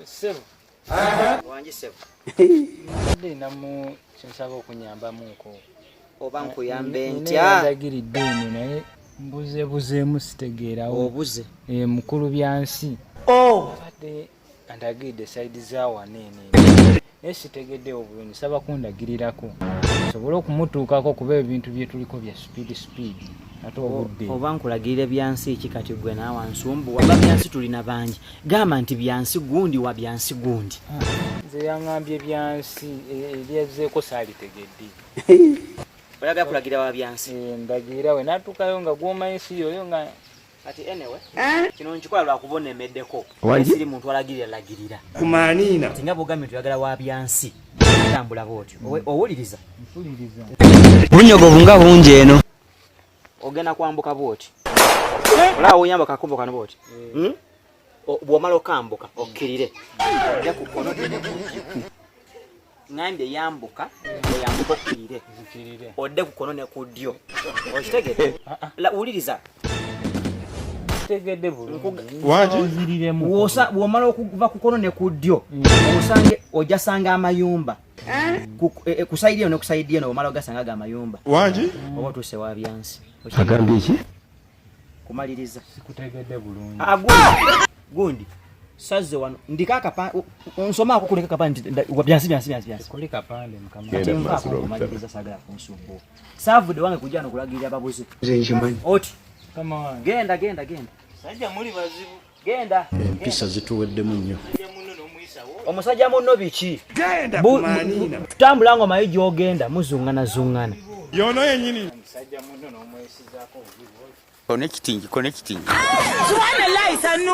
Sebo. Aha. Wangi sebo. Ndi na mu kinsaba okunyamba mu nko. Oba nko yambe ntya. Ndi ndagiri dini naye mbuze buze musitegeera. Obuze. Eh mukulu byansi. Oh. Ade. andagiride saidi zawano eno naye sitegeddewo bulungi saba kundagirirako sobole okumutuukako kuba ebintu byetuliko bya speed speed ate obudde oba nkulagirire byansi ki kati gwe naawe nsumbu waba byansi tulina bangi gamba nti byansi gundi wa byansi gundi nze yaŋambye byansi e, ebyazzeeko saalitegedde olaga kulagira wa byansi eh, ndagira we natuukayo nga gwomanyi si yoyo nga kati anyway eh? kino nkikola lwakuba onemeddeko siri muntu alagirira lagirira kumaniina ti nga bwogambye tuyagala wa byansi tambula bwotyo owuliriza bunyogovu nga bungi eno ogenda kwambuka bwoti eh? olaba woyamba kakubo kano bwoti eh. hmm? bwomala okambuka okkirire ojja ku kkono ngambye yambuka oyambuka okkirire odde ku kkono ne ku ddyo okitegede ah, ah. wuliriza bwomala okuva ku kkono ne ku ddyo mm. osange ojasanga amayumba kusaidia eh? eh, no kusaidia no mala gasanga ga mayumba wangi oba tuse wa byansi agambye ki kumaliriza sikutegedde bulungi ah, gundi sazze wano ndiko akapande onsomaako kuleka kapande byansi byansi byansi byansi kuli kapande mukamakumaliriza sagala kunsumbu savude wange kujja nokulagirira babuze oti genda genda genda sajja muli bazibu genda empisa zituweddemu nnyo omusajja munno biki tutambula nga omayi gyogenda muzungana zungana yono yenyini connecting connecting subhanallah isanu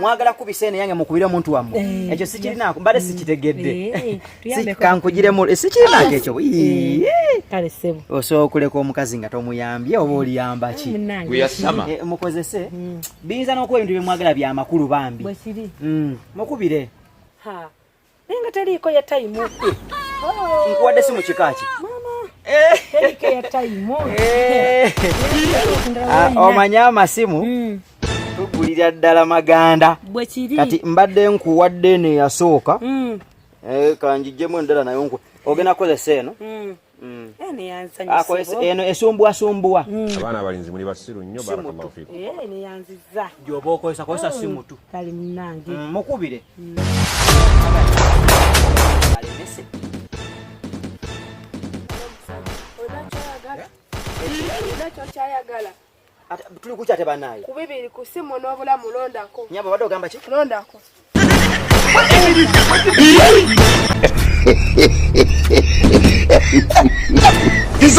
mwagala kubisa eno yange mukubire omuntu wammwe eh, ekyo sikirinaako mbadde mm. sikitegedde eh, eh, kankugiremu sikirinaako ekyo kale sebo osobola okuleka omukazi nga tomuyambye oba oliyamba ki mukozese mm. biyinza n'okuba ebintu byemwagala byamakulu bambi mm. mukubire naye nga teliiko ya tayimu nkuwadde si mu kika ki omanye amasimu hmm. tugulira ddala maganda kati mbadde nkuwadde neyasooka hmm. eh, kanjijjemu endala nayo ogenda kukozesa eno hmm. Mm. eno esumbuwasumbuwa mm. abaana abalinzi muli basiru nnyo barakallahu fikum neyanziza gyoba okozesa kozesa si mutu mm. kali munange mukubire tuli kuki ate banaye ku bibiri ku simu n'obulamu londako nyabo badde ogamba ki londako He's